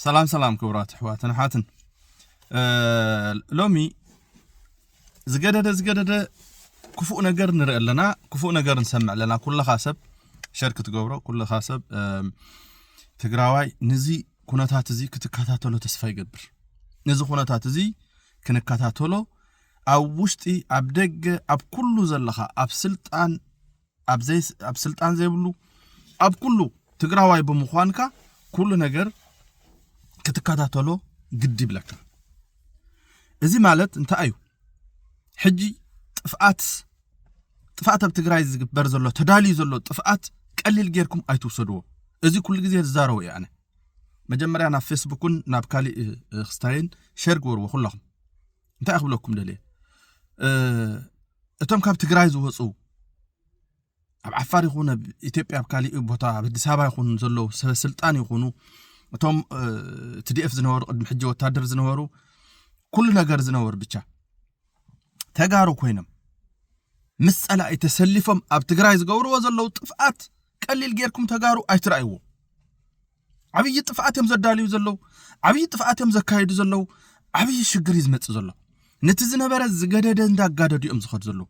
ሰላም ሰላም ክቡራት ኣሕዋትን ኣሓትን ሎሚ ዝገደደ ዝገደደ ክፉእ ነገር ንርኢ ኣለና ክፉእ ነገር ንሰምዕ ኣለና ኩልኻ ሰብ ሸር ክትገብሮ ኩልኻ ሰብ ትግራዋይ ንዚ ኩነታት እዚ ክትከታተሎ ተስፋ ይገብር ነዚ ኩነታት እዚ ክንከታተሎ ኣብ ውሽጢ ኣብ ደገ ኣብ ኩሉ ዘለኻ ኣብ ስልጣን ኣብ ዘይ ኣብ ስልጣን ዘይብሉ ኣብ ኩሉ ትግራዋይ ብምዃንካ ኩሉ ነገር ክትከታተሎ ግድ ይብለካ እዚ ማለት እንታይ እዩ ሕጂ ጥፍኣት ጥፍኣት ኣብ ትግራይ ዝግበር ዘሎ ተዳልዩ ዘሎ ጥፍኣት ቀሊል ጌርኩም ኣይትውሰድዎ እዚ ኩሉ ግዜ ዝዛረቡ እየ ኣነ መጀመርያ ናብ ፌስቡክን ናብ ካሊእ ክስታይን ሸር ግበርዎ ኩለኹም እንታይ ክብለኩም ደልየ እቶም ካብ ትግራይ ዝወፁ ኣብ ዓፋር ይኹን ኣብ ኢትዮጵያ ኣብ ካሊእ ቦታ ኣብ ኣዲስ ኣበባ ይኹን ዘለዉ ሰበስልጣን ይኹኑ እቶም ትዲኤፍ ዝነበሩ ቅድሚ ሕጂ ወታደር ዝነበሩ ኩሉ ነገር ዝነበሩ ብቻ ተጋሩ ኮይኖም ምስ ፀላኢ ተሰሊፎም ኣብ ትግራይ ዝገብርዎ ዘለዉ ጥፍኣት ቀሊል ጌርኩም ተጋሩ ኣይትረኣይዎ ዓብዪ ጥፍኣት እዮም ዘዳልዩ ዘለዉ ዓብዪ ጥፍኣት እዮም ዘካየዱ ዘለዉ ዓብዪ ሽግር እዩ ዝመፅእ ዘሎ ነቲ ዝነበረ ዝገደደ እንዳጋደዱ እዮም ዝኸዱ ዘለዉ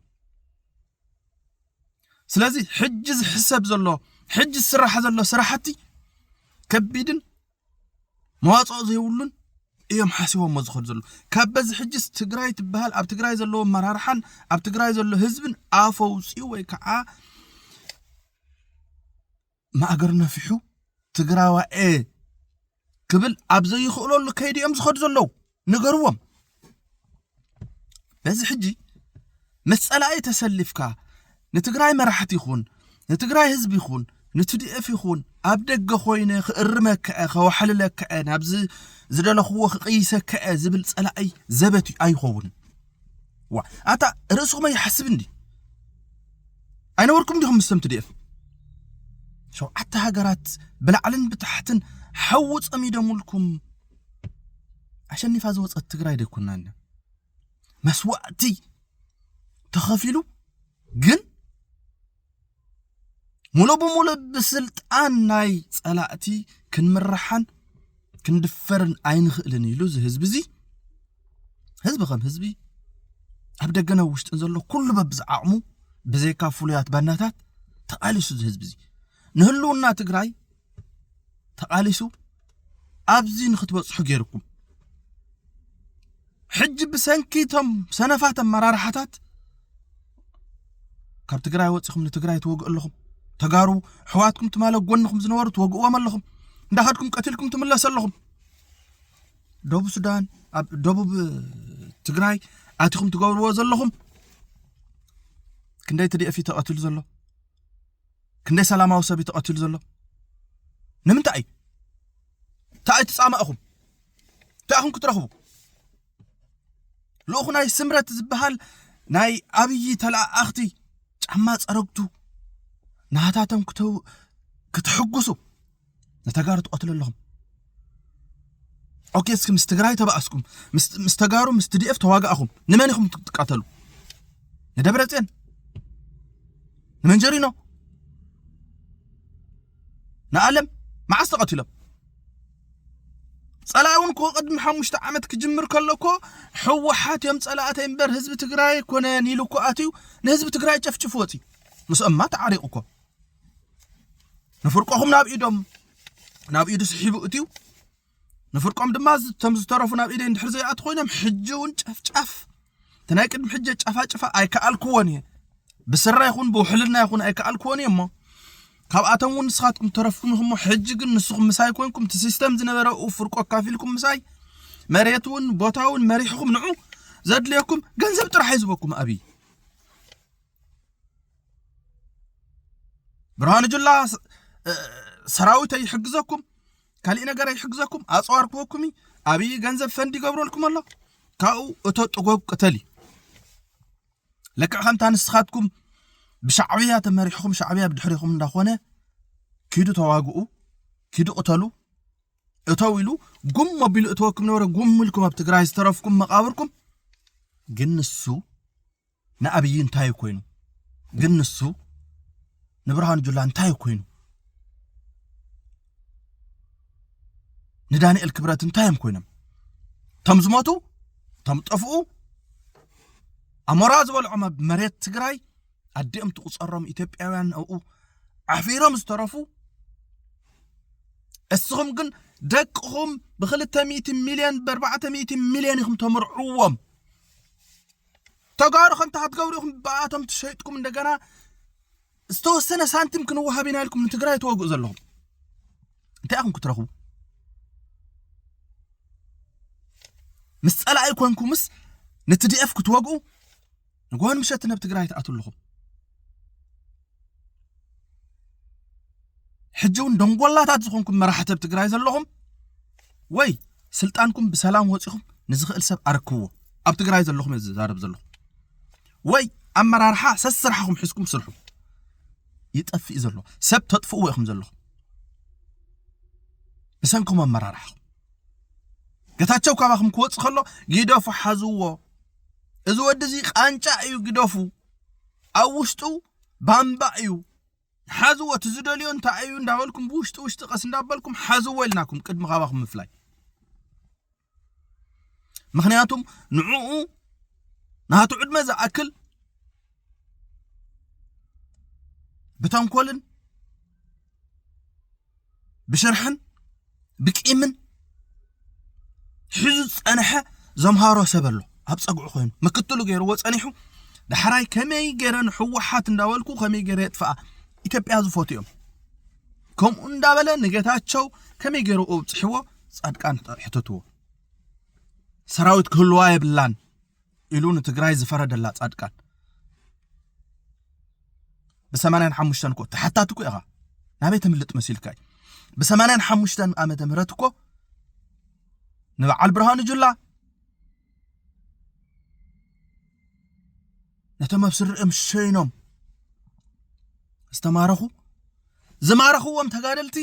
ስለዚ ሕጂ ዝሕሰብ ዘሎ ሕጂ ዝስራሕ ዘሎ ስራሕቲ ከቢድን መዋፅኦ ዘይብሉን እዮም ሓሲቦሞ ዝኸዱ ዘለዉ ካብ በዚ ሕጅስ ትግራይ ትበሃል ኣብ ትግራይ ዘለዎ ኣመራርሓን ኣብ ትግራይ ዘሎ ህዝብን ኣፈውፅኡ ወይ ከዓ ማእገር ነፊሑ ትግራዋኤ ክብል ኣብ ዘይኽእለሉ ከይዲ እዮም ዝኸዱ ዘለዉ ንገርዎም በዚ ሕጂ ምስ ጸላኢ ተሰሊፍካ ንትግራይ መራሕቲ ይኹን ንትግራይ ህዝቢ ይኹን ንትዲኤፍ ይኹን ኣብ ደገ ኮይነ ክእርመክዐ ከዋሕልለክዐ ናብዚ ዝደለኽዎ ክቕይሰክዐ ዝብል ጸላኢ ዘበት ኣይኸውን ዋ ኣታ ርእስኹም ኣይሓስብ እንዲ ኣይነበርኩም ዲኹም ምስተም ትድኤፍ ሸውዓተ ሃገራት ብላዕልን ብታሕትን ሓዊ ጸሚደሙልኩም ኣሸኒፋ ዝወፀት ትግራይ ደይኮና ኣለ መስዋእቲ ተኸፊሉ ግን ሙሉእ ብሙሉእ ብስልጣን ናይ ጸላእቲ ክንምራሓን ክንድፈርን ኣይንኽእልን ኢሉ እዚ ህዝቢ እዚ ህዝቢ ከም ህዝቢ ኣብ ደገን ኣብ ውሽጥን ዘሎ ኩሉ በብዝዓቕሙ ብዘይካ ፍሉያት ባናታት ተቓሊሱ እዚ ህዝቢ እዚ ንህልውና ትግራይ ተቓሊሱ ኣብዚ ንክትበጽሑ ገይርኩም ሕጂ ብሰንኪ እቶም ሰነፋት ኣመራርሓታት ካብ ትግራይ ወፂኹም ንትግራይ ትወግኡ ኣለኹም ተጋሩ ኣሕዋትኩም ትማለ ጎንኹም ዝነበሩ ትወግእዎም ኣለኹም እንዳኸድኩም ቀትልኩም ትምለሱ ኣለኹም ደቡብ ሱዳን ኣብ ደቡብ ትግራይ ኣቲኹም ትገብርዎ ዘለኹም ክንደይ ትድኤፍ እዩ ተቐትሉ ዘሎ ክንደይ ሰላማዊ ሰብ እዩ ተቐቲሉ ዘሎ ንምንታይ እዩ እንታይ እዩ ትፃማእኹም እንታይ ኢኹም ክትረኽቡ ልኡኹ ናይ ስምረት ዝበሃል ናይ ኣብዪ ተለኣኣኽቲ ጫማ ፀረግቱ ናታቶም ክተው ክትሕጉሱ ንተጋሩ ትቐትሉ ኣለኹም ኦኬ እስኪ ምስ ትግራይ ተባእስኩም ምስ ተጋሩ ምስ ትዲኤፍ ተዋጋእኹም ንመን ኢኹም ትቃተሉ ንደብረ ፅዮን ንመንጀሪኖ ንኣለም መዓስ ተቐቲሎም ፀላኢ እውን እኮ ቅድሚ ሓሙሽተ ዓመት ክጅምር ከሎ እኮ ሕወሓት እዮም ፀላእተይ እምበር ህዝቢ ትግራይ ኣይኮነን ኢሉ እኮ ኣትዩ ንህዝቢ ትግራይ ጨፍጭፉ ወፂ ምስኦማ ተዓሪቑ እኮ ንፍርቆኹም ናብ ኢዶም ናብ ኢዱ ስሒቡ እትዩ ንፍርቆም ድማ እቶም ዝተረፉ ናብ ኢደይ እንድሕር ዘይኣት ኮይኖም ሕጂ እውን ጨፍጫፍ እቲ ናይ ቅድሚ ሕጂ ጨፋጭፋ ኣይከኣልክዎን እየ ብስራ ይኹን ብውሕልና ይኹን ኣይከኣልክዎን እየ እሞ ካብኣቶም እውን ንስኻትኩም ተረፍኩም ኢኹም ሕጂ ግን ንስኹም ምሳይ ኮንኩም እቲ ሲስተም ዝነበረኡ ፍርቆ ኣካፊልኩም ምሳይ መሬት እውን ቦታ እውን መሪሕኹም ንዑ ዘድልየኩም ገንዘብ ጥራሕ እዩ ዝበኩም ኣብይ ብርሃኑ ጁላ ሰራዊት ኣይሕግዘኩም ካሊእ ነገር ኣይሕግዘኩም ኣፅዋር ክወኩም እዩ ኣብይ ገንዘብ ፈንድ ይገብረልኩም ኣሎ ካብኡ እቶ ጥጎብ ቅተል እዩ ልክዕ ከምታ ንስኻትኩም ብሻዕብያ ተመሪሕኹም ሻዕብያ ብድሕሪኹም እንዳኾነ ኪዱ ተዋግኡ ኪዱ ቅተሉ እተው ኢሉ ጉም ኣቢሉ እተወኩም ነበረ ጉም ኢልኩም ኣብ ትግራይ ዝተረፍኩም መቃብርኩም ግን ንሱ ንኣብይ እንታይ እዩ ኮይኑ ግን ንሱ ንብርሃኑ ጁላ እንታይ እዩ ኮይኑ ንዳንኤል ክብረት እንታይ እዮም ኮይኖም እቶም ዝሞቱ እቶም ጠፍኡ ኣሞራ ዝበልዖም ኣብ መሬት ትግራይ ኣዲኦም ትቁፀሮም ኢትዮጵያውያን ኣብኡ ዓፊሮም ዝተረፉ እስኹም ግን ደቅኹም ብክልተ ሚእቲ ሚልዮን ብኣርባዕተ ሚእቲ ሚልዮን ኢኹም ተምርዕዎም ተጋሩ ከምቲ ከትገብሩ ኢኹም ብኣቶም ትሸይጥኩም እንደገና ዝተወሰነ ሳንቲም ክንወሃብ ኢና ኢልኩም ንትግራይ ተወግኡ ዘለኹም እንታይ ኢኹም ክትረኽቡ ምስ ፀላኢ ኮንኩምስ ንትዲኤፍ ክትወግኡ ንጎን ምሸት ናብ ትግራይ ትኣትው ኣለኹም ሕጂ እውን ደንጎላታት ዝኾንኩም መራሕቲ ኣብ ትግራይ ዘለኹም ወይ ስልጣንኩም ብሰላም ወፂኹም ንዝኽእል ሰብ ኣረክብዎ ኣብ ትግራይ ዘለኹም እየ ዝዛረብ ዘለኹ ወይ ኣመራርሓ ሰስራሕኹም ሕዝኩም ስርሑ ይጠፍእ ዘሎ ሰብ ተጥፍእዎ ኢኹም ዘለኹም ብሰንኩም ኣመራርሓኹም ገታቸው ካባኹም ክወፅ ከሎ ግደፉ ሓዝዎ እዚ ወዲ እዚ ቃንጫ እዩ ግደፉ ኣብ ውሽጡ ባምባ እዩ ሓዝዎ እቲ ዝደልዮ እንታይ እዩ እንዳበልኩም ብውሽጢ ውሽጢ ቀስ እንዳበልኩም ሓዝዎ ኢልናኩም ቅድሚ ካባኹም ምፍላይ ምክንያቱም ንዕኡ ናቱ ዕድመ ዝኣክል ብተንኮልን ብሽርሕን ብቂምን ሒዙ ዝፀንሐ ዘምሃሮ ሰብ ኣሎ ኣብ ፀግዑ ኮይኑ ምክትሉ ገይርዎ ፀኒሑ ዳሕራይ ከመይ ገይረ ንሕወሓት እንዳበልኩ ከመይ ገይረ የጥፍኣ ኢትዮጵያ ዝፈትዩ እዮም ከምኡ እንዳበለ ንጌታቸው ከመይ ገይሩ ኣብፅሕዎ ፃድቃን ሕተትዎ ሰራዊት ክህልዋ የብላን ኢሉ ንትግራይ ዝፈረደላ ጻድቃን ብሰማንያን ሓሙሽተን እኮ ተሓታቲ እኮ ኢኻ ናበይ ተምልጥ መሲልካ እዩ ብሰማንያን ሓሙሽተን ዓመተ ምህረት እኮ ንበዓል ብርሃኑ ጁላ ነቶም ኣብ ስርዕም ሸይኖም ዝተማረኹ ዝማረኽዎም ተጋደልቲ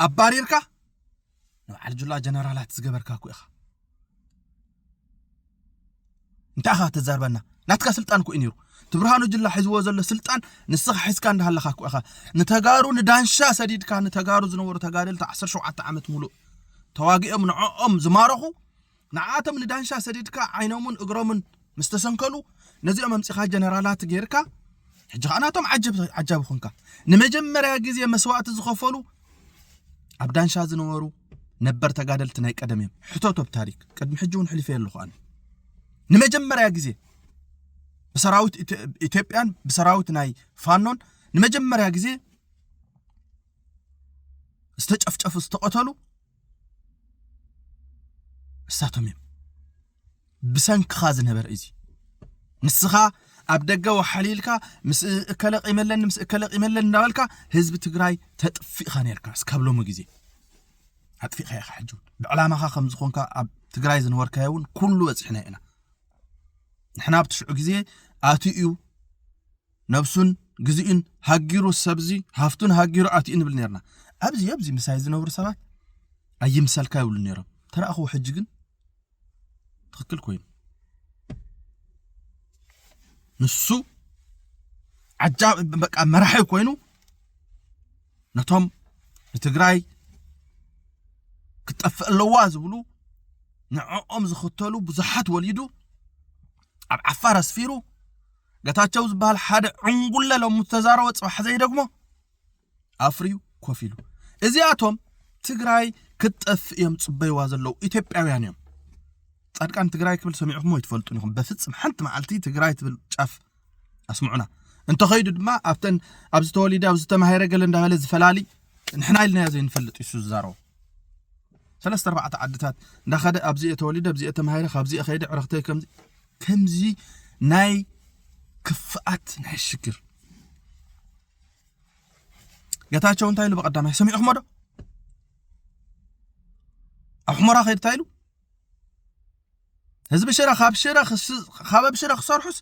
ኣባሪርካ ንበዓል ጁላ ጀነራላት ዝገበርካ እኮ ኢኻ እንታይ ኢኻ ተዛርበና ናትካ ስልጣን እኮ እዩ ነይሩ እቲ ብርሃኑ ጅላ ሒዝዎ ዘሎ ስልጣን ንስኻ ሒዝካ እንዳሃለኻ እኮ ኢኻ ንተጋሩ ንዳንሻ ሰዲድካ ንተጋሩ ዝነበሩ ተጋደልቲ 17 ዓመት ሙሉእ ተዋጊኦም ንዕኦም ዝማረኹ ንዓኣቶም ንዳንሻ ሰዲድካ ዓይኖምን እግሮምን ምስ ተሰንከሉ ነዚኦም ኣምጺኻ ጀነራላት ጌርካ ሕጂ ከኣ ናቶም ዓጀብ ዓጃቢ ኮንካ ንመጀመርያ ግዜ መስዋእቲ ዝኸፈሉ ኣብ ዳንሻ ዝነበሩ ነበር ተጋደልቲ ናይ ቀደም እዮም ሕተቶ ብታሪክ ቅድሚ ሕጂ እውን ሕሊፈ ኣለኹ ኣነ ንመጀመርያ ግዜ ብሰራዊት ኢትዮጵያን ብሰራዊት ናይ ፋኖን ንመጀመርያ ግዜ ዝተጨፍጨፉ ዝተቐተሉ ንሳቶም እዮም ብሰንክኻ ዝነበረ እዚ ንስኻ ኣብ ደገ ወሓሊ ኢልካ ምስ እከለ ቂመለኒ ምስ እከለ ቂመለኒ እንዳበልካ ህዝቢ ትግራይ ተጥፊእኻ ነርካ እስካብ ሎሚ ግዜ ኣጥፊእኻ ኢኻ ሕጂ እውን ብዕላማኻ ከም ዝኾንካ ኣብ ትግራይ ዝነበርካዮ እውን ኩሉ በፂሕና ኢና ንሕና ኣብቲ ሽዑ ግዜ ኣትዩ እዩ ነብሱን ግዚኡን ሃጊሩ ሰብዚ ሃፍቱን ሃጊሩ ኣትዩ ንብል ነርና ኣብዚ ኣብዚ ምሳይ ዝነብሩ ሰባት ኣይምሰልካ ይብሉ ነሮም ተረእኽዎ ሕጂ ግን ትኽክል ኮይኑ ንሱ ዓጃ በቃ መራሒ ኮይኑ ነቶም ንትግራይ ክትጠፍእ ኣለዋ ዝብሉ ንዕኦም ዝኽተሉ ብዙሓት ወሊዱ ኣብ ዓፋር ኣስፊሩ ገታቸው ዝበሃል ሓደ ዕንጉለ ሎሚ ዝተዛረቦ ፅባሕ ዘይደግሞ ኣፍርዩ ኮፍ ኢሉ እዚኣቶም ትግራይ ክትጠፍእ እዮም ጽበይዋ ዘለዉ ኢትዮጵያውያን እዮም ጻድቃን ትግራይ ክብል ሰሚዕኹም ይትፈልጡን ኢኹም በፍጽም ሓንቲ መዓልቲ ትግራይ ትብል ጫፍ ኣስምዑና እንተኸይዱ ድማ ኣብተን ኣብ ዝተወሊደ ኣብ ዝተማሃረ ገለ እንዳበለ ዝፈላሊ ንሕና ኢልናዮ ዘይንፈልጥ እዩ ዝዛረቡ ሰለስተ ኣርባዕተ ዓድታት እንዳኸደ ኣብዚኦ ተወሊደ ኣብዚኦ ተማሂረ ካብዚኦ ከይደ ዕረኽተይ ከምዚ ከምዚ ናይ ክፍኣት ናይ ሽግር ገታቸው እንታይ ኢሉ ብቐዳማይ ሰሚዕኹሞ ዶ ኣብ ሕሞራ ከይድ እንታይ ኢሉ ህዝቢ ሽረ ካብ ሽረ ካብ ኣብ ሽረ ክሰርሑስ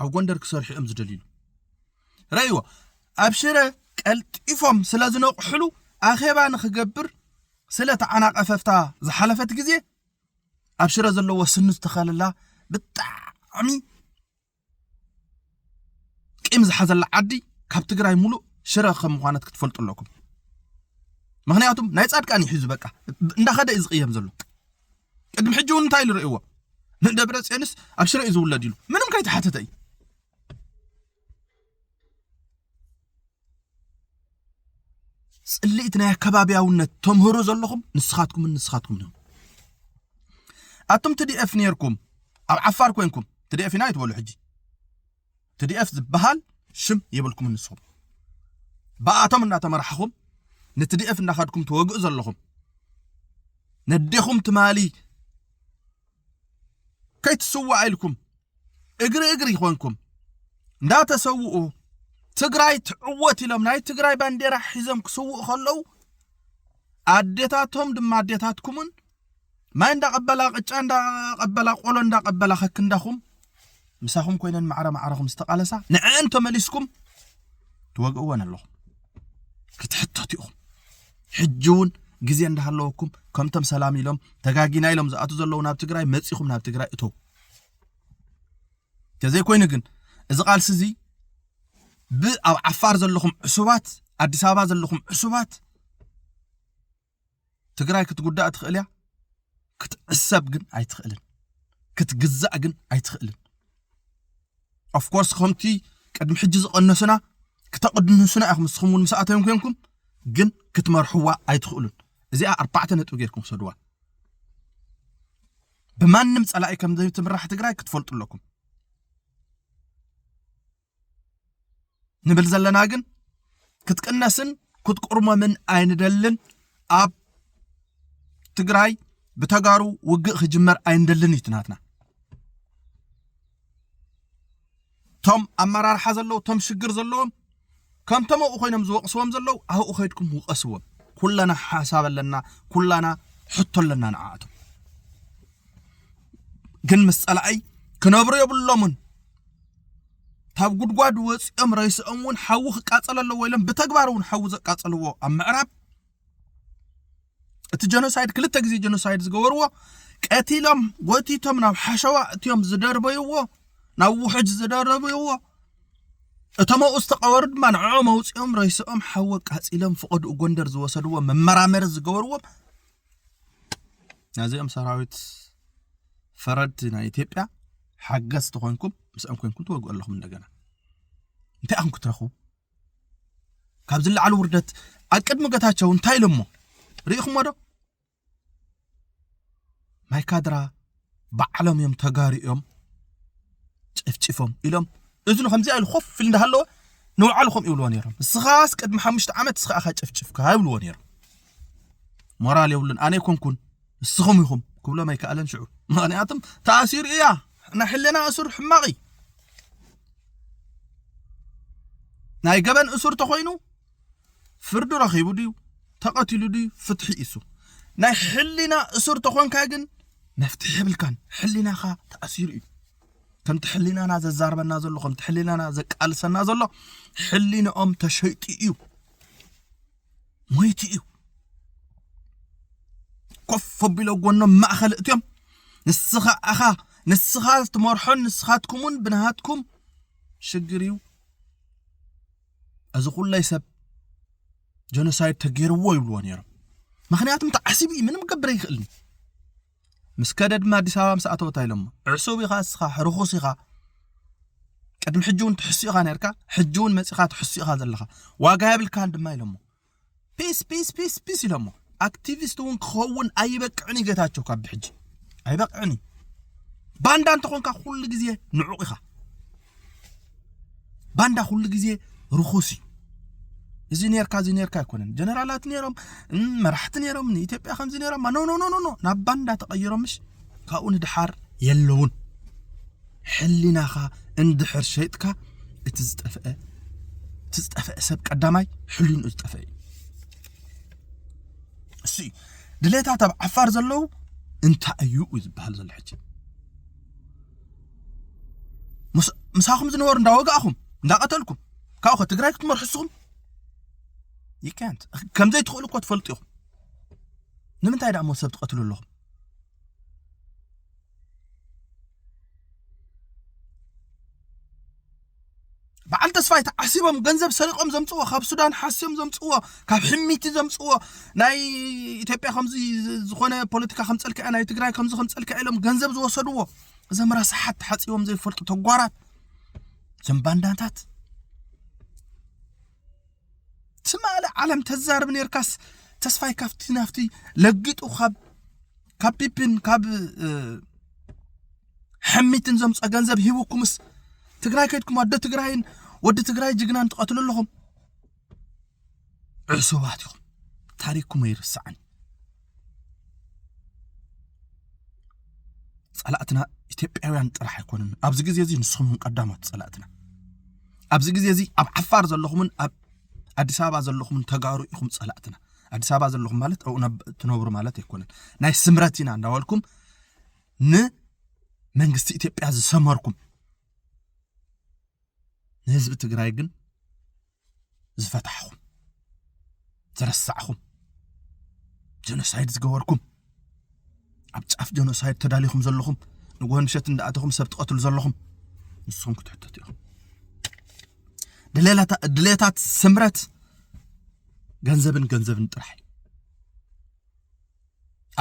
ኣብ ጎንደር ክሰርሑ እዮም ዝደልዩ ረእይዎ ኣብ ሽረ ቀልጢፎም ስለ ዝነቕሕሉ ኣኼባ ንክገብር ስለ ተዓናቐፈፍታ ዝሓለፈት ግዜ ኣብ ሽረ ዘለዎ ስኑ ዝተኸለላ ብጣዕሚ ቂም ዝሓዘላ ዓዲ ካብ ትግራይ ሙሉእ ሽረ ከም ምዃነት ክትፈልጡ ኣለኩም ምክንያቱም ናይ ጻድቃን ይሕዙ በቃ እንዳኸደ እዩ ዝቕየም ዘሎ ቅድሚ ሕጂ እውን እንታይ ኢሉ ርእይዎ ንደብረ ፅዮንስ ኣብ ሽረ እዩ ዝውለድ ኢሉ ምንም ከይተሓተተ እዩ ጽልኢት ናይ ኣከባብያውነት ተምህሩ ዘለኹም ንስኻትኩምን ንስኻትኩም ዲኹም ኣቱም ትዲኤፍ ነርኩም ኣብ ዓፋር ኮንኩም ትዲኤፍ ኢና ይትበሉ ሕጂ ትዲኤፍ ዝበሃል ሽም የብልኩም ንስኹም ብኣቶም እናተመራሕኹም ንትዲኤፍ እናኸድኩም ትወግኡ ዘለኹም ነዴኹም ትማሊ ከይትስዋእ ኢልኩም እግሪ እግሪ ይኾንኩም እንዳተሰውኡ ትግራይ ትዕወት ኢሎም ናይ ትግራይ ባንዴራ ሒዞም ክስውኡ ከለዉ ኣዴታቶም ድማ ኣዴታትኩምን ማይ እንዳቐበላ ቅጫ እንዳቐበላ ቆሎ እንዳቐበላ ከክንዳኹም ምሳኹም ኮይነን ማዕረ ማዕረኹም ዝተቓለሳ ንዐን ተመሊስኩም ትወግእወን ኣለኹም ክትሕተቱ ኢኹም ሕጂ እውን ግዜ እንዳሃለወኩም ከምቶም ሰላም ኢሎም ተጋጊና ኢሎም ዝኣቱ ዘለዉ ናብ ትግራይ መፂኹም ናብ ትግራይ እተው ተዘይኮይኑ ግን እዚ ቃልሲ እዚ ብኣብ ዓፋር ዘለኹም ዕሱባት ኣዲስ ኣበባ ዘለኹም ዕሱባት ትግራይ ክትጉዳእ ትኽእል እያ፣ ክትዕሰብ ግን ኣይትኽእልን፣ ክትግዛእ ግን ኣይትኽእልን። ኦፍኮርስ ከምቲ ቅድሚ ሕጂ ዝቐነሱና ክተቕድንሱና ኢኹም ንስኹም እውን ምስ ኣተዮም ኮንኩም ግን ክትመርሕዋ ኣይትኽእሉን። እዚኣ ኣርባዕተ ነጥቢ ጌርኩም ሰድዋ። ብማንም ጸላኢ ከም ዘይትምራሕ ትግራይ ክትፈልጡ ኣለኩም። ንብል ዘለና ግን ክትቅነስን ክትቁርመምን ኣይንደልን ኣብ ትግራይ ብተጋሩ ውግእ ክጅመር ኣይንደልን እዩ ትናትና እቶም ኣመራርሓ ዘለዉ እቶም ሽግር ዘለዎም ከምቶም ኣብኡ ኮይኖም ዝወቕስዎም ዘለዉ ኣብኡ ከይድኩም ውቐስዎም ኩለና ሓሳብ ኣለና ኩላና ሕቶ ኣለና ንዓኣቶም ግን ምስ ፀላኣይ ክነብሩ የብሎምን ካብ ጉድጓድ ወፂኦም ሬስኦም እውን ሓዊ ክቃፀል ኣለዎ ኢሎም ብተግባር እውን ሓዊ ዘቃፀልዎ ኣብ ምዕራብ እቲ ጀኖሳይድ ክልተ ግዜ ጀኖሳይድ ዝገበርዎ ቀቲሎም ጎቲቶም ናብ ሓሸዋ እትዮም ዝደርበይዎ ናብ ውሕጅ ዝደረብይዎ እቶም ኣብኡ ዝተቐበሩ ድማ ንዕኦም ኣውፂኦም ረይስኦም ሓወ ቃፂሎም ፍቐድኡ ጎንደር ዝወሰድዎ መመራመሪ ዝገበርዎም ናዚኦም ሰራዊት ፈረድ ናይ ኢትዮጵያ ሓገዝ ተኾንኩም ምስኦም ኮንኩም ትወግኡ ኣለኹም እንደገና እንታይ ኣኹም ክትረኽቡ ካብ ዝለዓሉ ውርደት ኣብ ቅድሚ ገታቸው እንታይ ኢሎሞ ርኢኹሞ ዶ ማይ ካድራ ባዕሎም እዮም ተጋሩ እዮም ጨፍጭፎም ኢሎም እዝኑ ከምዚኣ ኢሉ ኮፍ ኢሉ እንዳሃለወ ንባዕሉ ከምኡ ይብልዎ ነይሮም እስኻስ ቅድሚ ሓሙሽተ ዓመት እስኻ ኢኻ ጨፍጭፍካ ይብልዎ ነይሮም ሞራል የብሉን ኣነ ኣይኮንኩን ንስኹም ኢኹም ክብሎም ኣይከኣለን ሽዑ ምክንያቱም ተኣሲሩ እያ ናይ ሕልና እሱር ሕማቕ እዩ ናይ ገበን እሱር ተኾይኑ ፍርዱ ረኺቡ ድዩ ተቐቲሉ ድዩ ፍትሒ ኢሱ ናይ ሕሊና እሱር ተኾንካ ግን መፍትሒ የብልካን ሕሊናኻ ተኣሲሩ እዩ ከምቲ ሕሊናና ዘዛርበና ዘሎ ከምቲ ሕሊናና ዘቃልሰና ዘሎ ሕሊንኦም ተሸይጡ እዩ ሞይቲ እዩ ኮፍ ኣቢሎ ጎኖም ማእኸል እትዮም ንስኻ ኣኻ ንስኻ ትመርሖን ንስኻትኩምን ብናሃትኩም ሽግር እዩ እዚ ኩለይ ሰብ ጀኖሳይድ ተገይርዎ ይብልዎ ነይሮም ምክንያቱም ተዓሲቡ እዩ ምንም ክገብር ኣይክእልን ምስ ከደ ድማ ኣዲስ ኣበባ ምስ ኣተወታ ኢሎሞ ዕሱብ ኢኻ እስኻ ርኹስ ኢኻ ቅድሚ ሕጂ እውን ትሕሱ ኢኻ ነርካ ሕጂ እውን መፂኻ ትሕሱ ኢኻ ዘለኻ ዋጋ የብልካን ድማ ኢሎሞ ፒስ ፒስ ፒስ ፒስ ኢሎሞ ኣክቲቪስት እውን ክኸውን ኣይበቅዕን እዩ ጌታቸው ካብ ብሕጂ ኣይበቅዕን እዩ ባንዳ እንተኾንካ ኩሉ ግዜ ንዑቕ ኢኻ ባንዳ ኩሉ ግዜ ርኹስ እዩ እዚ ኔርካ እዚ ኔርካ ኣይኮነን ጀነራላት ኔሮም መራሕቲ ኔሮም ንኢትዮጵያ ከምዚ ኔሮም ኖ ኖ ኖ ናብ ባንዳ ተቐይሮምሽ ካብኡ ንድሓር የለውን ሕሊናኻ እንድሕር ሸይጥካ እቲ ዝጠፍአ እቲ ዝጠፍአ ሰብ ቀዳማይ ሕሊንኡ ዝጠፍአ እዩ እሱ እዩ ድሌታት ኣብ ዓፋር ዘለዉ እንታይ እዩ እዩ ዝበሃል ዘሎ ሕጂ ምሳኹም ዝነበሩ እንዳወጋእኹም እንዳቐተልኩም ካብኡ ከ ትግራይ ክትመርሑ እስኹም ይካንት ከምዘይትኽእሉ እኮ ትፈልጡ ኢኹም ንምንታይ ደኣ ሞ ሰብ ትቐትሉ ኣለኹም በዓል ተስፋይ ተዓሲቦም ገንዘብ ሰሪቆም ዘምፅዎ ካብ ሱዳን ሓስዮም ዘምፅዎ ካብ ሕሚቲ ዘምፅዎ ናይ ኢትዮጵያ ከምዚ ዝኾነ ፖለቲካ ከም ፀልክዐ ናይ ትግራይ ከምዚ ከም ፀልክዐ ኢሎም ገንዘብ ዝወሰድዎ እዞም ረሳሓት ተሓፂቦም ዘይፈልጡ ተጓራት እዞም ባንዳታት ትማሊ ዓለም ተዛርብ ነርካስ ተስፋይ ካብቲ ናፍቲ ለጊጡ ካብ ካብ ፒፒን ካብ ሕሚትን ዘምፀ ገንዘብ ሂቡኩምስ ትግራይ ከድኩም ኣደ ትግራይን ወዲ ትግራይ ጅግናን ትቐትሉ ኣለኹም ዕሱባት ኢኹም ታሪክኩም ኣይርስዓን ጸላእትና ኢትዮጵያውያን ጥራሕ ኣይኮኑን። ኣብዚ ግዜ እዚ ንስኹም ቀዳሞት ጸላእትና። ኣብዚ ግዜ እዚ ኣብ ዓፋር ዘለኹምን ኣብ ኣዲስ ኣበባ ዘለኹምን ተጋሩ ኢኹም ጸላእትና። ኣዲስ ኣበባ ዘለኹም ማለት ኣብኡ ትነብሩ ማለት ኣይኮነን። ናይ ስምረት ኢና እንዳበልኩም ንመንግስቲ ኢትዮጵያ ዝሰመርኩም ንህዝቢ ትግራይ ግን ዝፈታሕኹም ዝረሳዕኹም ጀኖሳይድ ዝገበርኩም ኣብ ጫፍ ጀኖሳይድ ተዳሊኹም ዘለኹም ንጎሆ ምሸት እንዳኣተኹም ሰብ ትቐትሉ ዘለኹም ንሶም ክትሕተቱ ኢኹም ድሌታት ስምረት ገንዘብን ገንዘብን ጥራሕ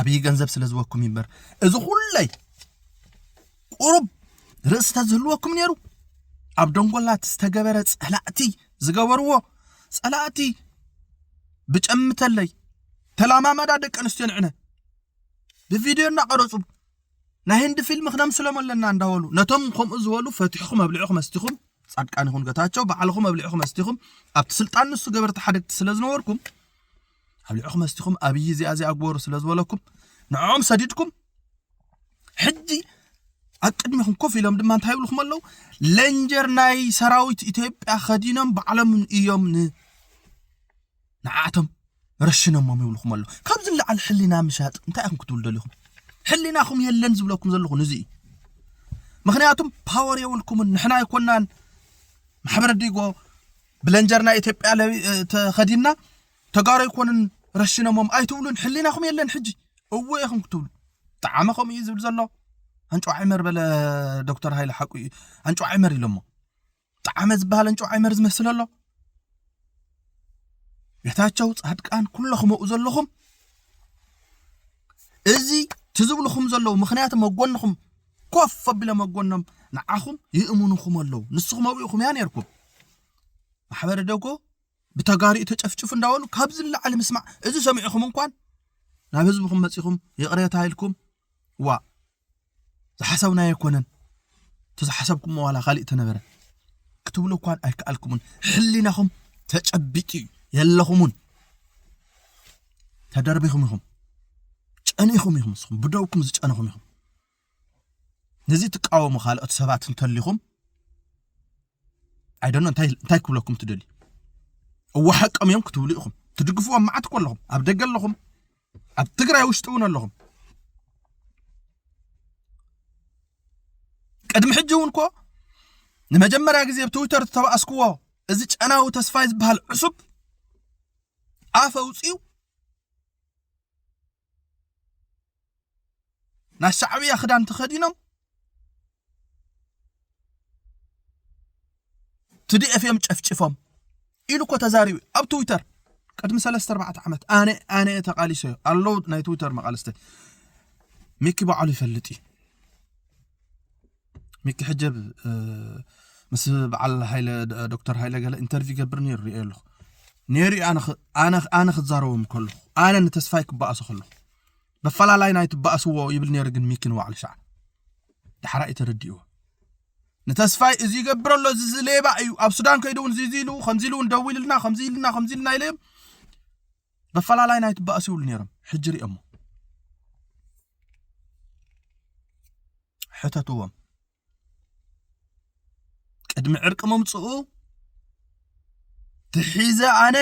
ኣብይ ገንዘብ ስለ ዝወኩም እዩ እምበር እዚ ኩለይ ቁሩብ ርእሲ ተዝህልወኩም ነይሩ ኣብ ደንጎላት ዝተገበረ ጸላእቲ ዝገበርዎ ጸላእቲ ብጨምተለይ ተላማመዳ ደቂ ኣንስትዮ ንዕነ ብቪድዮ እናቐረፁ ናይ ህንዲ ፊልም ክነምስሎም ኣለና እንዳበሉ ነቶም ከምኡ ዝበሉ ፈትሕኹም ኣብልዕኹም ኣስቲኹም ጻድቃን ይኹን ገታቸው ባዕልኹም ኣብልዕኹም ኣስቲኹም ኣብቲ ስልጣን ንሱ ገበርቲ ሓደግቲ ስለ ዝነበርኩም ኣብ ልዕኹም መስቲኹም ኣብይ እዚኣ እዚኣ ግበሩ ስለ ዝበለኩም ንዕኦም ሰዲድኩም ሕጂ ኣብ ቅድሚኹም ኮፍ ኢሎም ድማ እንታይ ይብልኩም ኣለዉ ለንጀር ናይ ሰራዊት ኢትዮጵያ ከዲኖም ባዕሎም እዮም ንዓቶም ረሽኖሞም ይብልኩም ኣለዉ ካብዚ ንላዕሊ ሕሊና ምሻጥ እንታይ ኢኹም ክትብሉ ደሊኹም ሕሊናኹም የለን ዝብለኩም ዘለኹ ንዚ እዩ ምክንያቱም ፓወር የብልኩምን ንሕና ኣይኮናን ማሕበረ ዲጎ ብለንጀር ናይ ኢትዮጵያ ተኸዲና ተጋሩ ኣይኮኑን ረሽነሞም ኣይትብሉን ሕሊናኹም የለን ሕጂ እዎ ኢኹም ክትብሉ ጠዓመ ከምኡ እዩ ዝብል ዘሎ ኣንጭዋ ዕመር በለ ዶክተር ሃይለ ሓቁ እዩ ኣንጭዋ ዕመር ኢሎሞ ጠዓመ ዝበሃል ኣንጭዋ ዕመር ዝመስል ኣሎ ጌታቸው ፃድቃን ኩለኹም ኣብኡ ዘለኹም እዚ ትዝብልኹም ዘለዉ ምክንያቱ መጎንኹም ኮፍ ኣቢሎም ኣብ ጎኖም ንዓኹም ይእምኑኹም ኣለዉ ንስኹም ኣብኡ ኢኹም እያ ነርኩም ማሕበረ ደጎ ብተጋሪኡ ተጨፍጭፉ እንዳበሉ ካብዚ ንላዕሊ ምስማዕ እዚ ሰሚዕኹም እንኳን ናብ ህዝብኹም መፂኹም ይቕሬታ ኢልኩም ዋ ዝሓሰብና ኣይኮነን እቲ ዝሓሰብኩም ዋላ ካሊእ ተነበረ ክትብሉ እኳን ኣይከኣልኩምን ሕሊናኹም ተጨቢጡ እዩ የለኹምን ተደርቢኹም ኢኹም ጨኒኹም ኢኹም ንስኹም ብደውኩም ዝጨነኹም ኢኹም ነዚ ትቃወሙ ካልኦት ሰባት እንተሊኹም ኣይደኖ እንታይ እንታይ ክብለኩም ትደልዩ እወ ሓቆም እዮም ክትብሉ ኢኹም ትድግፍዎም መዓት እኮ ኣለኹም ኣብ ደገ ኣለኹም ኣብ ትግራይ ውሽጢ እውን ኣለኹም ቅድሚ ሕጂ እውን እኮ ንመጀመርያ ግዜ ኣብ ትዊተር ዝተባእስክዎ እዚ ጨናዊ ተስፋይ ዝበሃል ዕሱብ ኣፍ ኣውፅኡ ናይ ሻዕብያ ክዳን ተኸዲኖም ትዲኤፍ እዮም ጨፍጭፎም ኢሉ እኮ ተዛሪቡ ኣብ ትዊተር ቅድሚ ሰለስተ ኣርባዕተ ዓመት ኣነ ኣነ እየ ተቓሊሶ እዩ ኣለዉ ናይ ትዊተር መቓልስቲ ሚኪ ባዕሉ ይፈልጥ እዩ ሚኪ ሕጀብ ምስ በዓል ሃይለ ዶክተር ሃይለ ገለ ኢንተርቪው ገብር ነይሩ ሪኦ ኣለኹ ነይሩ ኣነ ክዛረቦም ከለኹ ኣነ ንተስፋይ ክበኣሶ ከለኹ በፈላላይ ናይ ትበኣስዎ ይብል ነይሩ ግን ሚኪ ንባዕሉ ሸዓ ዳሕራ እዩ ተረዲእዎ ንተስፋይ እዚ ይገብር ኣሎ እዚ ዝሌባ እዩ ኣብ ሱዳን ከይዱ እውን እዚ ኢሉ ከምዚ ኢሉ እውን ደዊሉልና ከምዚ ኢልና ከምዚ ኢልና ኢለ በፈላላይ ናይ ትባእሱ ይብሉ ነይሮም ሕጂ ሪኦሞ ሕተትዎም ቅድሚ ዕርቂ ምምፅኡ ትሒዘ ኣነ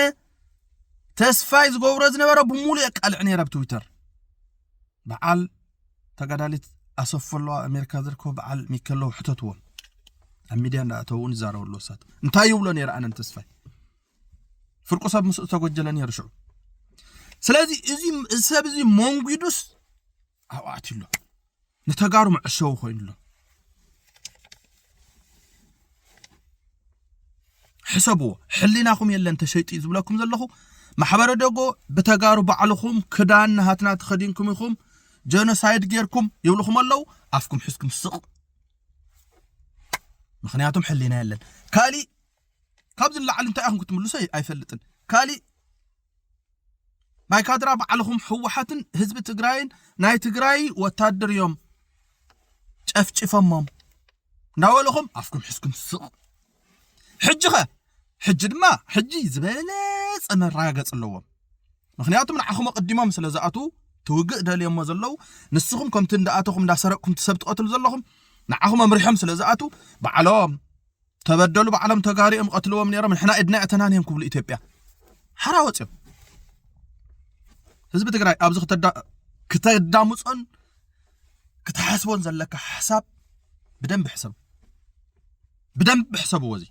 ተስፋይ ዝገብሮ ዝነበረ ብምሉእ የቃልዕ ነይረ ኣብ ትዊተር በዓል ተጋዳሊት ኣሰፍ ኣለዋ ኣሜሪካ ዝርከቡ በዓል ሚከለዉ ሕተትዎም ኣብ ሚድያ እንዳእተውን ይዛረቡ ኣለዉ ሳት እንታይ ይብሎ ነይረ ኣነን ተስፋይ ፍርቁ ሰብ ምስኡ ተጎጀለ ነይሩ ሽዑ ስለዚ እዚ ሰብ እዚ መንጒዱስ ኣብኡ ኣትዩ ኣሎ ንተጋሩ መዕሸዊ ኮይኑ ኣሎ ሕሰብዎ ሕሊናኹም የለን ተሸይጡ እዩ ዝብለኩም ዘለኹ ማሕበረ ደጎ ብተጋሩ ባዕልኹም ክዳን ናሃትና ተኸዲንኩም ኢኹም ጀኖሳይድ ጌርኩም ይብልኹም ኣለዉ ኣፍኩም ሕዝኩም ስቕ ምክንያቱም ሕሊና የለን ካሊእ ካብዚ ንላዕሊ እንታይ ኢኹም ክትምልሱ ኣይፈልጥን። ካሊእ ናይ ካድራ ባዕልኹም ህወሓትን ህዝቢ ትግራይን ናይ ትግራይ ወታደር እዮም ጨፍጭፈሞም እንዳበለኹም ኣፍኩም ሕዝኩም ስቕ ሕጂ ኸ ሕጂ ድማ ሕጂ ዝበለፀ መረጋገፂ ኣለዎም ምክንያቱ ንዓኹም ኣቐዲሞም ስለ ዝኣትዉ ትውግእ ደልዮሞ ዘለዉ ንስኹም ከምቲ እንዳኣተኹም እንዳሰረቅኩም ትሰብ ትቐትሉ ዘለኹም ንዓኹም ኣምሪሖም ስለ ዝኣትዉ ባዕሎም ተበደሉ ባዕሎም ተጋሩ እዮም ቀትልዎም ነይሮም ንሕና ኢድና እተናን እዮም ክብሉ ኢትዮጵያ ሓራ ወፅዮም ህዝቢ ትግራይ ኣብዚ ክተዳምፆን ክትሓስቦን ዘለካ ሓሳብ ብደንብ ሕሰብ ብደንብ ሕሰብዎ እዚ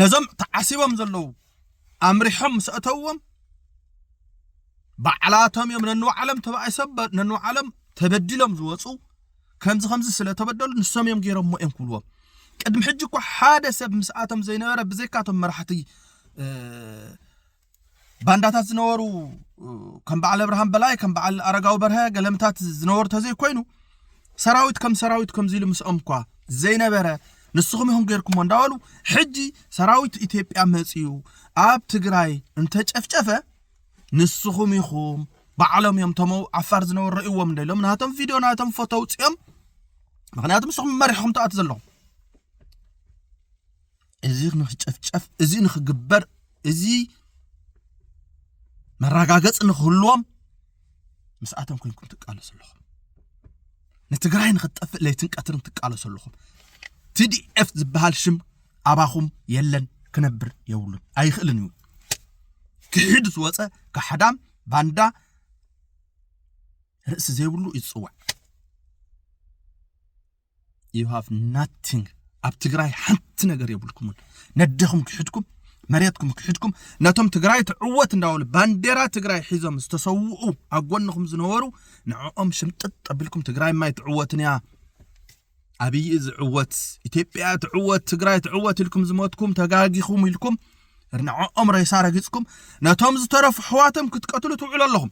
ነዞም ተዓሲቦም ዘለዉ ኣምሪሖም ምስ ኣእተውዎም ባዕላቶም እዮም ነንባዕሎም ተባኢሶም ነንባዕሎም ተበዲሎም ዝወፁ ከምዚ ከምዚ ስለ ተበደሉ ንሶም እዮም ገይሮሞ እዮም ክብልዎም ቅድሚ ሕጂ እኳ ሓደ ሰብ ምስኣቶም ዘይነበረ ብዘይካቶም መራሕቲ ባንዳታት ዝነበሩ ከም በዓል ኣብርሃም በላይ ከም በዓል ኣረጋዊ በርሀ ገለምታት ዝነበሩ ተዘይኮይኑ ሰራዊት ከም ሰራዊት ከምዚ ኢሉ ምስኦምኳ ዘይነበረ ንስኹም ኢኹም ጌርኩሞ እንዳበሉ ሕጂ ሰራዊት ኢትዮጵያ መጺኡ ኣብ ትግራይ እንተጨፍጨፈ ንስኹም ኢኹም ባዕሎም እዮም እቶም ዓፋር ዝነበሩ ረእዎም እንደ ኢሎም ናቶም ቪድዮ ናቶም ፎቶ ኣውፅኦም ምክንያቱ ንስኹም መሪሕኹም ተኣት ዘለኹም እዚ ንክጨፍጨፍ እዚ ንክግበር እዚ መረጋገፂ ንክህልዎም ምስኣቶም ኮንኩም ትቃለሱ ኣለኹም ንትግራይ ንክትጠፍእ ለይትን ቀትርን ትቃለሱ ኣለኹም ቲዲኤፍ ዝበሃል ሽም ኣባኹም የለን ክነብር የብሉን ኣይኽእልን እዩ ክሒድ ዝወፀ ካሕዳም ባንዳ ርእሲ ዘይብሉ ይፅዋዕ ዩ ሃቭ ናቲንግ ኣብ ትግራይ ሓንቲ ነገር የብልኩምን ነደኹም ክሕድኩም መሬትኩም ክሕድኩም ነቶም ትግራይ ትዕወት እንዳበሉ ባንዴራ ትግራይ ሒዞም ዝተሰውኡ ኣብ ጎንኹም ዝነበሩ ንዕኦም ሽምጥጥ ኣቢልኩም ትግራይ ማይ ትዕወትን እያ ኣብይ ዝዕወት ኢትዮጵያ ትዕወት ትግራይ ትዕወት ኢልኩም ዝሞትኩም ተጋጊኹም ኢልኩም ንዕኦም ሬሳ ረጊፅኩም ነቶም ዝተረፉ ሕዋቶም ክትቀትሉ ትውዕሉ ኣለኹም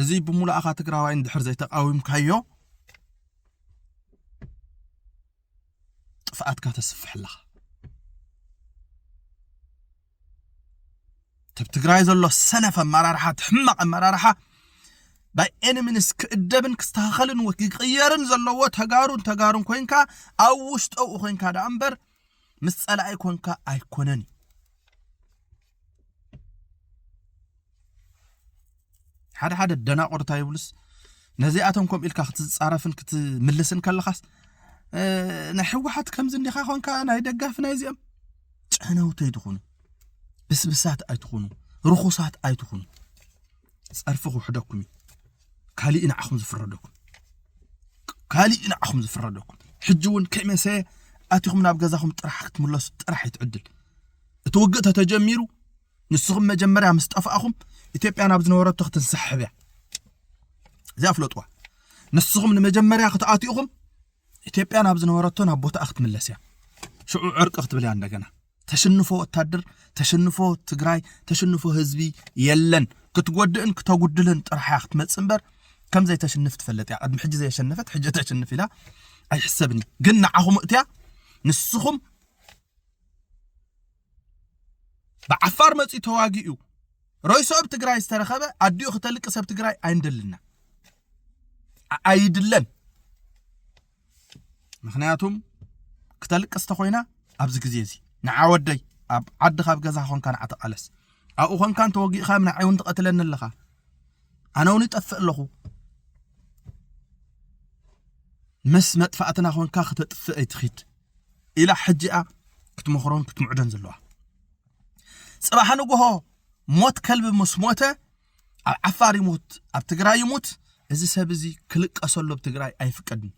እዚ ብሙሉኣኻ ትግራዋይ እንድሕር ዘይተቃዊምካዮ ጥፍኣትካ ተስፍሕ ኣለኻ ተብ ትግራይ ዘሎ ሰነፍ ኣመራርሓ እቲ ሕማቕ ኣመራርሓ ባይ ኤኒ ሚንስ ክእደብን ክስተኻኸልን ወ- ክቅየርን ዘለዎ ተጋሩን ተጋሩን ኮንካ ኣብ ውሽጠኡ ኮንካ ደኣ እምበር ምስ ፀላኢ ኮንካ ኣይኮነን እዩ ሓደ ሓደ ደናቑር እንታይ ይብሉስ ነዚኣቶም ከምኡ ኢልካ ክትፃረፍን ክትምልስን ከለኻስ ናይ ሕወሓት ከምዚ እንዲኻ ኮንካ ናይ ደጋፊ ናይ እዚኦም ጨነውቲ ኣይትኹኑ ብስብሳት ኣይትኹኑ ርኹሳት ኣይትኹኑ ፀርፊ ክውሕደኩም እዩ ካሊእ ንዓኹም ዝፍረደኩም ካሊእ ንዓኹም ዝፍረደኩም ሕጂ እውን ከይመሰየ ኣቲኹም ናብ ገዛኹም ጥራሕ ክትምለሱ ጥራሕ ይትዕድል እቲ ውግእ ተተጀሚሩ ንስኹም መጀመርያ ምስ ጠፋእኹም ኢትዮጵያ ናብ ዝነበረቶ ክትንሳሕብ እያ እዚኣ ፍለጥዋ ንስኹም ንመጀመርያ ክትኣትኡኹም ኢትዮጵያ ናብ ዝነበረቶ ናብ ቦታኣ ክትምለስ እያ ሽዑ ዕርቂ ክትብል እያ እንደገና ተሽንፎ ወታደር ተሽንፎ ትግራይ ተሽንፎ ህዝቢ የለን ክትጎድእን ክተጉድልን ጥራሕ እያ ክትመፅእ እምበር ከም ዘይተሽንፍ ትፈለጥ እያ ቅድሚ ሕጂ ዘየሸነፈት ሕጂ ተሽንፍ ኢላ ኣይሕሰብን እዩ ግን ንዓኹም እትያ ንስኹም ብዓፋር መፅኡ ተዋጊኡ ሮይሶ ኣብ ትግራይ ዝተረኸበ ኣዲኡ ክተልቂ ሰብ ትግራይ ኣይንደልና ኣይድለን ምክንያቱም ክተልቅስ ተኮይና ኣብዚ ግዜ እዚ ንዓ ወደይ ኣብ ዓዲ ካብ ገዛ ኮንካ ንዓ ተቃለስ ኣብኡ ኮንካ እንተወጊእካ ንዓይ እውን ትቐትለኒ ኣለኻ ኣነ እውን ይጠፍእ ኣለኹ ምስ መጥፋእትና ኮንካ ክተጥፍእ ኣይትኺድ ኢላ ሕጂ እያ ክትመኽሮን ክትምዕዶን ዘለዋ ጽባሕ ንግሆ ሞት ከልቢ ምስ ሞተ ኣብ ዓፋር ይሙት ኣብ ትግራይ ይሙት እዚ ሰብ እዚ ክልቀሰሉ ኣብ ትግራይ ኣይፍቀድን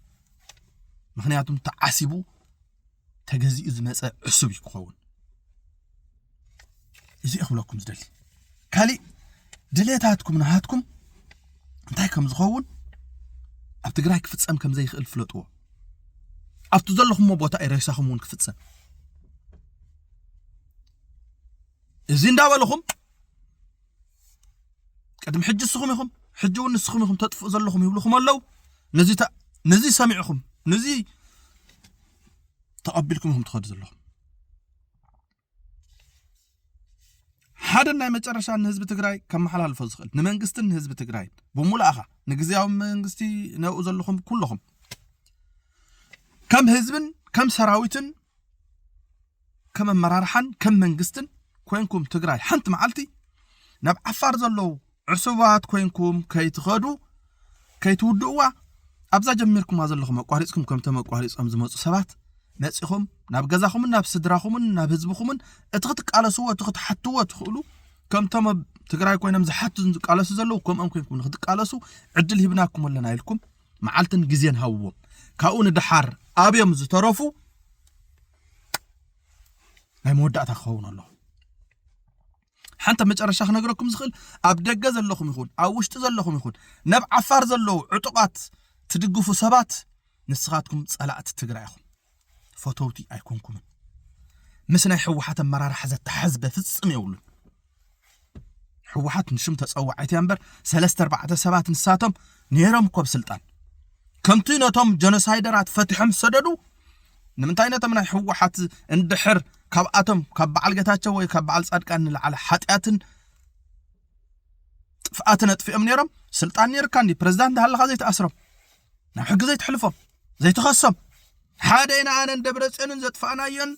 ምክንያቱም ተዓሲቡ ተገዚኡ ዝመፀ ዕሱብ እዩ ክኸውን እዚ ክብለኩም ዝደሊ ካሊእ ድሌታትኩም ናሃትኩም እንታይ ከም ዝኸውን ኣብ ትግራይ ክፍፀም ከም ዘይክእል ፍለጥዎ ኣብቲ ዘለኹሞ ቦታ እዩ ሬሳኹም እውን ክፍፀም እዚ እንዳበልኹም ቅድሚ ሕጂ ንስኹም ኢኹም ሕጂ እውን ንስኹም ኢኹም ተጥፍኡ ዘለኹም ይብልኹም ኣለው ነዚ ነዚ ሰሚዕኹም ነዚ ተቐቢልኩም ኢኹም ትኸዱ ዘለኹም ሓደን ናይ መጨረሻ ንህዝቢ ትግራይ ከመሓላልፎ ዝኽእል ንመንግስትን ንህዝቢ ትግራይ ብሙሉእኻ ንግዜያዊ መንግስቲ ነብኡ ዘለኹም ኩለኹም ከም ህዝብን ከም ሰራዊትን ከም ኣመራርሓን ከም መንግስትን ኮንኩም ትግራይ ሓንቲ መዓልቲ ናብ ዓፋር ዘለዉ ዕሱባት ኮይንኩም ከይትኸዱ ከይትውድእዋ ኣብዛ ጀሚርኩማ ዘለኹም ኣቋሪጽኩም ከምቶም ኣቋሪጾም ዝመጹ ሰባት መጺኹም ናብ ገዛኹምን ናብ ስድራኹምን ናብ ህዝብኹምን እቲ ክትቃለስዎ እቲ ክትሓትዎ ትኽእሉ ከምቶም ኣብ ትግራይ ኮይኖም ዝሓቱን ዝቃለሱ ዘለዉ ከምኦም ኮይንኩም ንክትቃለሱ ዕድል ሂብናኩም ኣለና ኢልኩም መዓልትን ግዜን ሃብዎም ካብኡ ንደሓር ኣብዮም ዝተረፉ ናይ መወዳእታ ክኸውን ኣለኹ ሓንቲ ኣብ መጨረሻ ክነግረኩም ዝኽእል ኣብ ደገ ዘለኹም ይኹን ኣብ ውሽጢ ዘለኹም ይኹን ናብ ዓፋር ዘለዉ ዕጡቓት ትድግፉ ሰባት ንስኻትኩም ጸላእቲ ትግራይ ኢኹም ፈተውቲ ኣይኮንኩምን ምስ ናይ ሕወሓት ኣመራርሓ ዘተሓዝ በፍጽም የብሉን ሕወሓት ንሽም ተጸዋዒት እያ እምበር ሰለስተ ኣርባዕተ ሰባት ንሳቶም ነይሮም እኮ ኣብ ስልጣን ከምቲ ነቶም ጀኖሳይደራት ፈትሖም ዝሰደዱ ንምንታይ ነቶም ናይ ሕወሓት እንድሕር ካብኣቶም ካብ በዓል ጌታቸው ወይ ካብ በዓል ጻድቃን ንላዕለ ሓጢኣትን ጥፍኣትን ኣጥፊኦም ነይሮም ስልጣን ነይርካ እንዲ ፕረዚዳንት ሃለኻ ዘይትኣስሮም ናብ ሕጊ ዘይትሕልፎም ዘይትኸሶም ሓደ ኢና ኣነን ደብረ ፅዮንን ዘጥፋእናዮን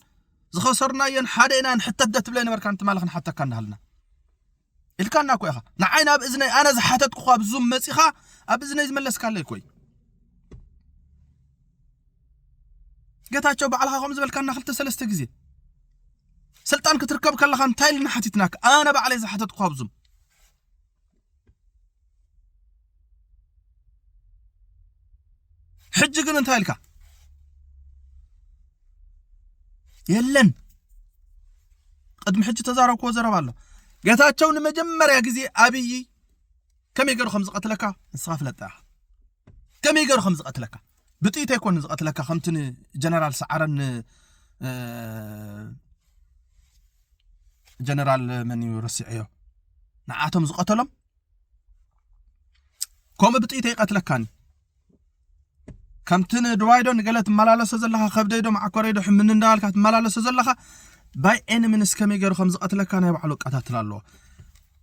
ዝኸሰርናዮን ሓደ ኢና ንሕተት ደትብለ ነበርካ እንትማልኽ ንሓተካ እንዳሃልና ኢልካና እኮ ኢኻ ንዓይ ናብ እዝነይ ኣነ ዝሓተትኩኻ ኣብ ዙም መፂኻ ኣብ እዝነይ ዝመለስካለይ እኮ እዩ ጌታቸው ባዕልኻ ከምኡ ዝበልካና ክልተ ሰለስተ ግዜ ስልጣን ክትርከብ ከለኻ እንታይ ኢልና ሓቲትናካ ኣነ ባዕለይ ዝሓተትኩኻ ኣብ ዙም ሕጂ ግን እንታይ ኢልካ የለን ቅድሚ ሕጂ ተዛረብክዎ ዘረባ ኣሎ ጌታቸው ንመጀመርያ ግዜ ኣብዪ ከመይ ገይሩ ከም ዝቐትለካ ንስኻ ፍለጣ ኢኻ ከመይ ገይሩ ከም ዝቐትለካ ብጥይት ኣይኮነ ዝቐትለካ ከምቲ ንጀነራል ሰዓረን ጀነራል መን እዩ ረሲዐዮ ንዓቶም ዝቐተሎም ከምኡ ብጥይት ኣይቀትለካን እዩ ከምቲ ንድዋይዶ ንገለ ትመላለሶ ዘለኻ ከብደይዶ ማዕኮረይዶ ሕምኒ እንዳበልካ ትመላለሶ ዘለኻ ባይ ኤኒ ምንስ ከመይ ገይሩ ከም ዝቐትለካ ናይ ባዕሉ ኣቀታትላ ኣለዎ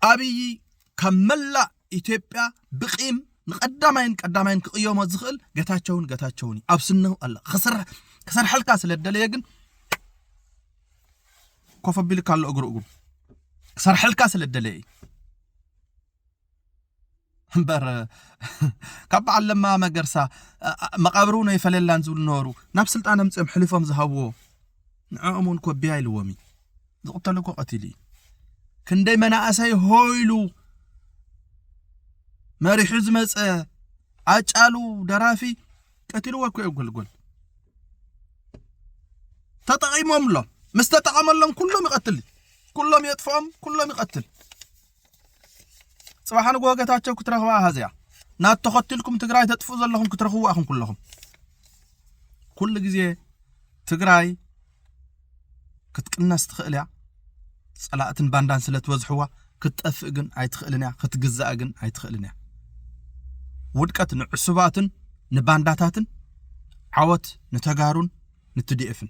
ኣብዪ ካብ መላእ ኢትዮጵያ ብቂም ንቀዳማይን ቀዳማይን ክቕየሞ ዝኽእል ገታቸውን ገታቸውን እዩ ኣብ ስነው ኣለ ክሰርሐልካ ስለ ደለየ ግን ኮፍ ኣቢልካ ኣሎ እግሩ እግሩ ክሰርሐልካ ስለ ደለየ እዩ እምበር ካብ በዓል ለማ መገርሳ መቓብር እውን ኣይፈለላን ዝብሉ ነበሩ ናብ ስልጣን ኣምፅኦም ሕሊፎም ዝሃብዎ ንዕኦም እውን ኮቢያ ኢልዎም እዩ ዝቕተሉ እኮ ቀቲሉ እዩ ክንደይ መናእሰይ ሆይሉ መሪሑ ዝመፀ ኣጫሉ ደራፊ ቀትልዎ እኮ እዮም ጎልጎል ተጠቒሞምሎም ምስ ተጠቐመሎም ኩሎም ይቐትል ኩሎም የጥፍኦም ኩሎም ይቐትል ፅባሕ ንግሆ ጌታቸው ክትረኽባ ሃዚያ ናት ተኸትልኩም ትግራይ ተጥፍኡ ዘለኹም ክትረኽቡ ኣኹም ኩለኹም ኩሉ ግዜ ትግራይ ክትቅነስ ትኽእል እያ ፀላእትን ባንዳን ስለ ትበዝሕዋ ክትጠፍእ ግን ኣይትኽእልን እያ ክትግዛእ ግን ኣይትኽእልን እያ ውድቀት ንዕሱባትን ንባንዳታትን ዓወት ንተጋሩን ንትዲኤፍን